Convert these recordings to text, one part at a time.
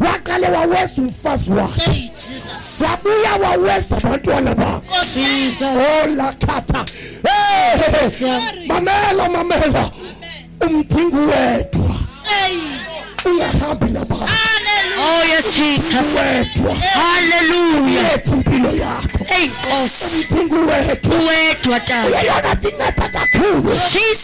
waqale waweza umfazi wakhe Hey Jesus. wabuya waweza abantwana bakho Nkosi yami. Jesus. olakhatha Sorry. mamela mamela umdingi wedwa Hey. ungahambi nabantu Hallelujah. Oh yes Jesus. wedwa Hallelujah. ethi impilo yakho Hey Nkosi. umdingi wedwa Wedwa tata. yeyona ndingeda kakhulu Jesus.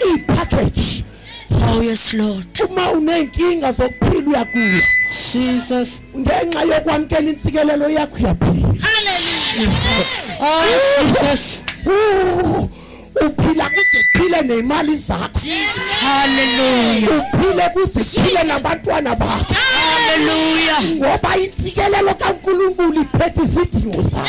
i package Oh yes Lord. Uma unenkinga zokuphila uyagula. Jesus. Ngenxa yokwamkela insikelelo yakho uyaphila. Hallelujah. Jesus. Oh Jesus. uphila kude phile nezimali zakho haleluya uphile kuze phile nabantwana bakho haleluya ngoba insikelelo kaNkulunkulu iphethe izidingo zakho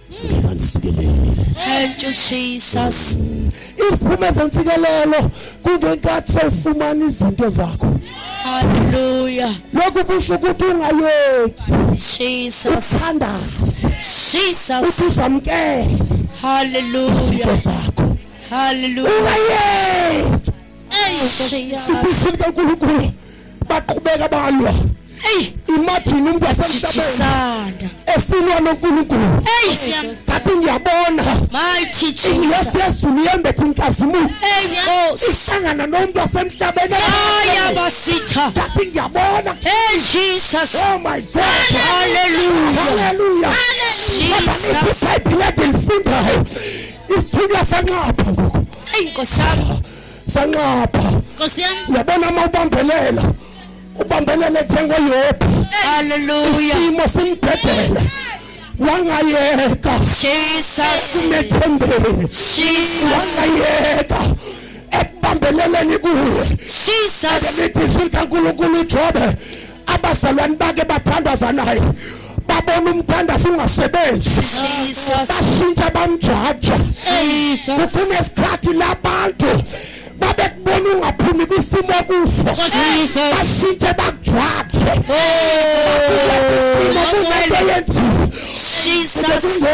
Thank you Jesus. Isiphuma sensikelelo kungenkathi sewufumana izinto zakho. Hallelujah. Lokhu kusho ukuthi ungayeki. Jesus. Uthandaze. Jesus. Uthi uzamkele. Hallelujah. Izinto zakho. Hallelujah. Ungayeki. siphusile kaNkulunkulu baqhubeka balwa imagine umuntu wasemhlabeni efunwa noNkulunkulu ngathi ngiyabona ingethi yezulu yembethe inkazimulo ihlangana nomuntu wasemhlabeni ngathi ngiyabona oh my god hallelujah hallelujah kodwa ngiphupha ibhilede lifundayo isithunywa sanxapha ngoku eyi nkosi yami sanxapha nkosi yami uyabona uma ubambelela ubambelele njengoyobi haleluya isimo simbhedela wangayeka simethembeni wangayeka ekubambeleleni kuwe emithi sikankulunkulu ujobe abazalwane bake bathandaza naye babona umthandazo ungasebenzi bashintsha bamjaja kukhona isikhathi labantu babekubona ungaphumi kwisimo kuso bashintshe bakujwaje oh, kunento yenzile